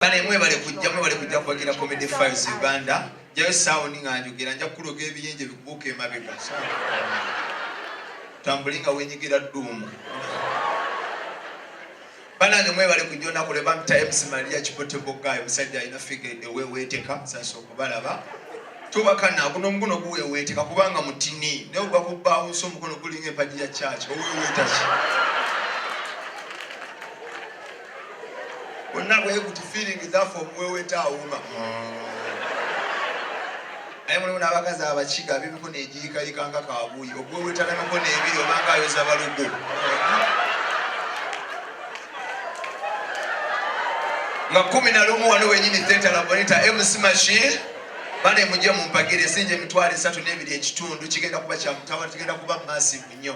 Bale mwebale kujja mwebale kujja kuwagira Comedy Files Uganda. Jayo sound nga njogera nja kuloga ebiyenje bikubuka emabega. Tambulinga wenyigira dduumu. Banange mwebale kujja olunaku lwe bampita MC Maria Kibote Bogayi omusajja alina figa eweweeteka sasa okubalaba. Tubakana guno omukono guweweeteka kubanga mutini naye ogwa ku bawunsi omukono gulinga empagi ya church oweweeta ki? bonna bweguti feeling zafe omuweweta awuma naye mulimu n'abakazi abakiga bibiko negiyikayika nga kabuuyi oguweweta nemikono ebiri obanga ayoza balugu nga kumi na lumu wano wenyini theta labonita mc machine bane mujje mumpagire sinje emitwalo esatu n'ebiri ekitundu kigenda kuba kyamutawa tugenda kuba masivu nnyo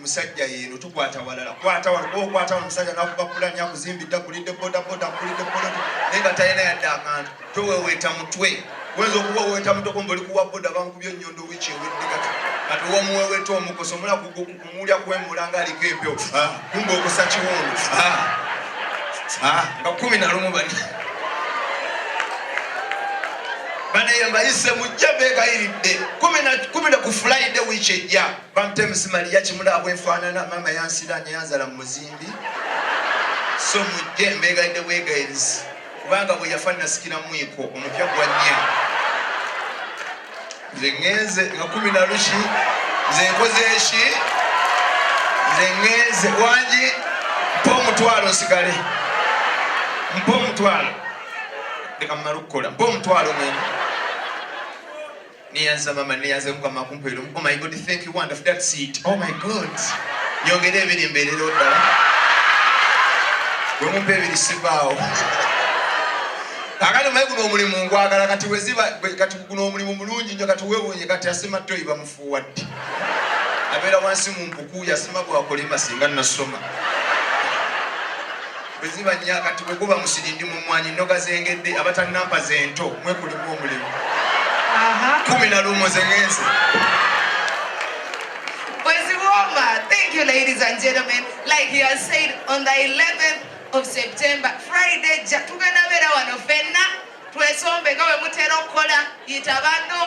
musajja yeero tukwata walala kwata walala musajja nakuba kulani akuzimbidde akulidde bodaboda akulidde poloti naye nga talina yadde akantu toweweeta mutwe weza okuba weta mutoko mboli kuwa boda bankubye ennyondo wiiki ewedde kati kati womuweweta omukoso mula kumulya kwemula nga aliko empewo ah, kumba okusa kiwundu ah, ah, nga kumi nalumu bani banaye mbayise mujja begayiridde kumi na kufulaide wiiki ejja Bamtems Maria kimula bwefaanana maama yansira neyanzala mu muzimbi so mujje mbeegaidde bwegairizi kubanga bwe yafa nasikira mwiko omupya gwa nnya nze ngenze nga kumi na luki nze nkoze eki nze ngenze wangi mpa omutwalo nsigale mpa omutwalo leka mumala okukola mpa omutwalo mwene Neyanza mama neyanza mukama kumpeera omu. Oh my God, thank you wonderful. That's it. Oh my God. Nyongera ebiri mbeerera oddala. Gwe mumpa ebiri sivaawo. Kakati omaye guno omulimu ngwagala kati weziba kati guno omulimu mulungi nnyo kati wewunye kati asima toyi bamufuuwa ddi. Abeera wansi mu mpuku yasima gwakolima singa nasoma. bwe ziba nnya kati bwe guba musiri ndi mu mmwanyi nnoga zengedde abatannampa zento mwe kulimu omulimu kumi na lumu zengenze Thank you, ladies and gentlemen. Like he has said, on the 11th of September, Friday, tugenda beera wano fenna twesombeka we mutera okukola yita banno